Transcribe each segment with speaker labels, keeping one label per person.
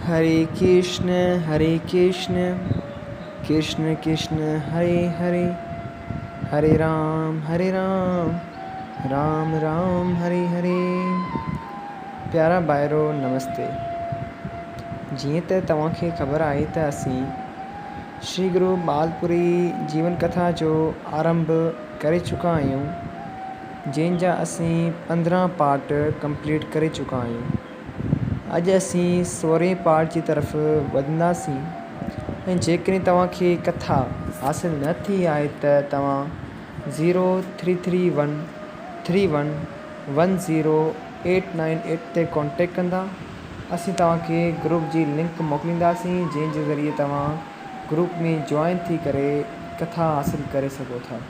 Speaker 1: هري ڪرشن هري ڪرشن ڪرشن ڪرشن هري هري هري رام هري رام رام رام هري هري پيارا ڀائرو نمستي جيئن ته توهان کي خبر آهي ته اسين شري گرو ٻال پوري جيون ڪٿا جو آرنڀ ڪري چڪا آهيون جنهن جا اسين پندرهن پارٽ ڪمپليٽ ڪري چڪا آهيون. اڄ اسين سورهين پارٽ جي طرف وڌنداسين ۽ جيڪڏهن توهان کي ڪٿا حاصل نه ٿي آهي ته توهان zero three three one three one one zero eight nine eight تي ڪانٽيڪٽ ڪندا اسين توهان کي گروپ جي لنڪ موڪلينداسين جنهن جي ذريعي توهان گروپ ۾ جوائن ٿي ڪري ڪٿا حاصل ڪري سگهو ٿا.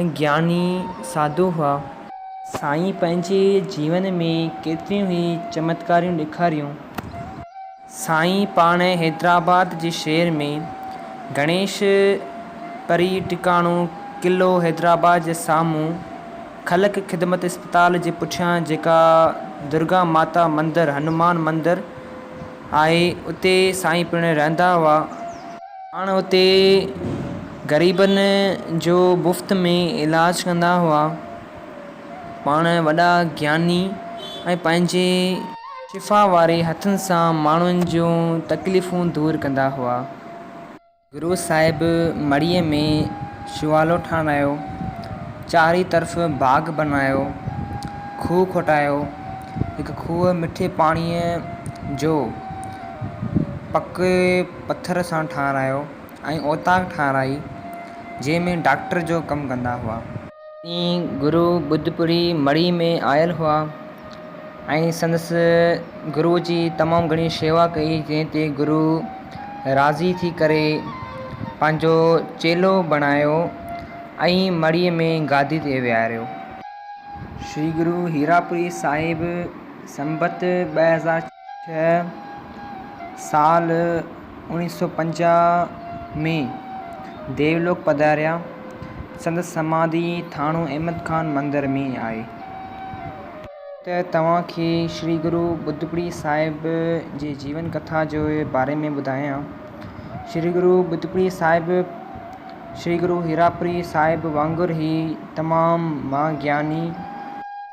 Speaker 1: ۽ گياني ساڌو هئا. سائين پنهنجي جيون ۾ ڪيتريون ئي چمتڪاريون ڏيکاريون. سائين پاڻ حيدرآباد جي شهر ۾ گڻيش پري ٽڪاڻو قلعو حيدرآباد جي سامهون خلق خدمت اسپتال جي پٺيان جيڪا درگا ماتا مندر هنومان مندر آهي اتي سائين پڻ رهندا هئا. پاڻ اتي غريبن جو مفت ۾ علاج ڪندا هئا. پاڻ وڏا گياني ۽ پنهنجي شفا واري هٿن سان ماڻهن جون تڪليفون دور ڪندا هئا. گرو صاحب مڙهيء ۾ شوالو ٺاهرايو، چارئي طرف باغ بنايو، کوهه کوٽايو، هڪ کوهه مٺي پاڻيء جو پڪي پٿر سان ٺاهرايو ۽ اوطاق ٺاهرائي، جنهن ۾ ڊاڪٽر جو ڪم ڪندا هئا. سائين گرو ٻڌپوري مڙهي ۾ آيل هئا ۽ سندس گرو جي تمام گهڻي شيوا ڪئي، جنهن تي گرو راضي ٿي ڪري پنهنجو چيلو بڻايو ۽ مڙهي ۾ گادي تي ويهاريو. شري گرو هيراپوري صاحب سنبت ٻه هزار ڇهه. هيء سال اوڻيهه سؤ پنجاهه ۾ ديولوڪ پڌاريا. سندس سماڌي ٿاڻو احمد خان مندر ۾ آهي. ته توهان کي شري گرو ٻڌپڙي صاحب جي جيون ڪٿا جي باري ۾ ٻڌايان. شري گرو ٻڌپڙي صاحب شري گرو هيراپري صاحب وانگر ئي تمام مها گياني.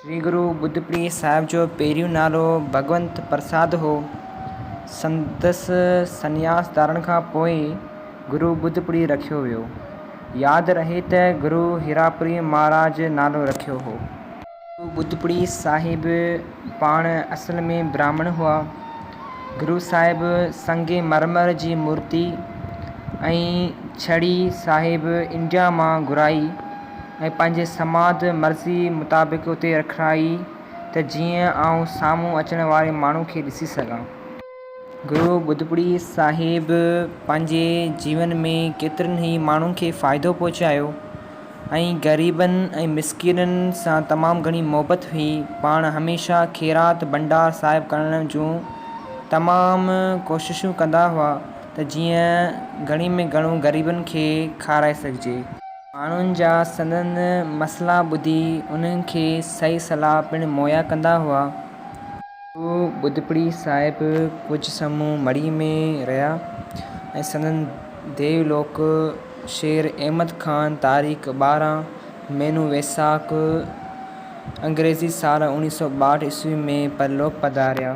Speaker 1: شري گرو ٻڌپري صاحب جو پهريون نالو ڀڳونت پرساد هو. سندس سنياس ڌارڻ کان پوء گرو ٻڌپري رکيو ويو. ياد رهي ته گرو هيراپري مهاراج نالو رکيو هو. گرو ٻڌپري صاحب پاڻ اصل ۾ براهمڻ هئا. گرو صاحب سنگ مرمر جي مورتي ۽ ڇڙي صاحب انڊيا مان گهرائي. ۽ پنهنجي سماڌ مرضي مطابق اتي رکرائي ته جيئن آئون سامهون اچڻ واري ماڻهو کي ڏسي سگهان. گرو ٻڌپڙي صاحب پنهنجي جيون ۾ ڪيترن ئي ماڻهن کي فائدو پهچايو ۽ غريبن ۽ مسڪينن سان تمام گهڻي محبت هئي. پاڻ هميشه خيرات ڀنڊار صاحب ڪرڻ جون تمام ڪوششون ڪندا هئا ته جيئن گهڻي ۾ گهڻو غريبن کي کارائي سگهجي. ماڻهن جا سندن مسئلا ٻڌي انهن کي صحيح صلاح پڻ مهيا ڪندا هئا. گرو ٻڌپڙي صاحب ڪجهه سمون مڙئي ۾ رهيا ۽ سندن ديو لوڪ شير احمد خان تاريخ ٻارهن مهينو ويساک انگريزي سال اوڻيهه سؤ ٻاهٺ عيسوي ۾ پرلوڪ پڌاريا.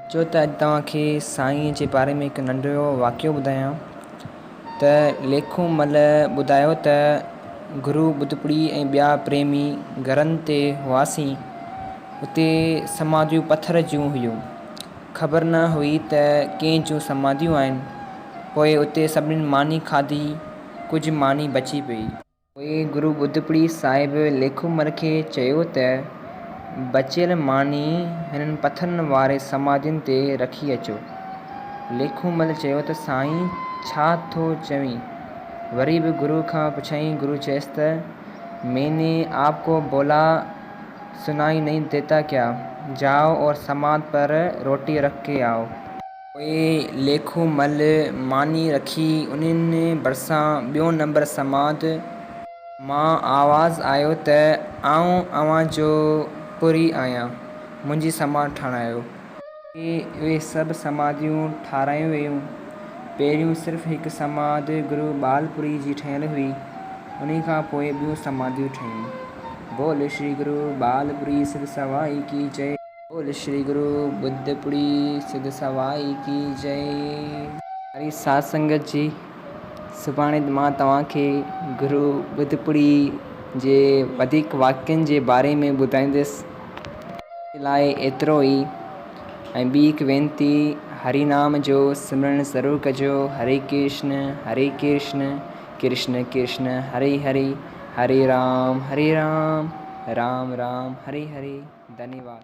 Speaker 1: اچو ته اڄ توهان کي سائينء جي باري ۾ هڪ ننڍڙو واقعو ٻڌايان ته ليکون مل ٻڌايو ته گرو ٻڌپڙي ۽ ٻيا پريمي گهرن تي هئاسين اتي سماڌيون پٿر جون هيون خبر نه هئي ته ڪنهن جون سماڌيون آهن پوء اتي سڀني ماني کاڌي ڪجهه
Speaker 2: ماني بچي پئي. پوء گرو ٻڌپڙي صاحب ليکومل کي چيو ته بچيل ماني هنن پٿرن واري سماڌين تي رکي اچو. ليکومل چيو ته سائين ڇا ٿو چوين؟ وري به گرو کان پڇيائين گرو چيس ته مين ني آپ ڪو بولا سنائي نهين ديتا ڪيا؟ جاؤ اور سماڌ پر روٽي رک ڪي آئو. پوء ليکو مل ماني رکي انهن ڀرسان ٻيو نمبر سماعت مان آواز آيو ته آئون اوهان جو پورهئي آهيان، منهنجي سماعت ٺارايو. پوء اهي سڀ سماعتون ٺارايون ويون. پهريون صرف هڪ سماعت گرو ٻالپوري جي ٺهيل هئي، انهي کان پوء ٻيون سماعتون ٺهيون. بول شري گرو ٻالپوري سر سوائي ڪي چئي. بول شري گرو ٻڌ پڙي سڌ سوائي ڪي جي. ساري ساڌ سنگت جي سڀاڻي مان توهان کي گرو ٻڌ پڙي جي وڌيڪ واقعن جي باري ۾ ٻڌائيندس اڄ لاء ايترو ئي ۽ ٻي هڪ وينتي هري نام جو سمرڻ ضرور ڪجو هري ڪرشن هري ڪرشن. ڪرشن ڪرشن هري هري هري رام هري رام رام رام هري هري ڌنيواد.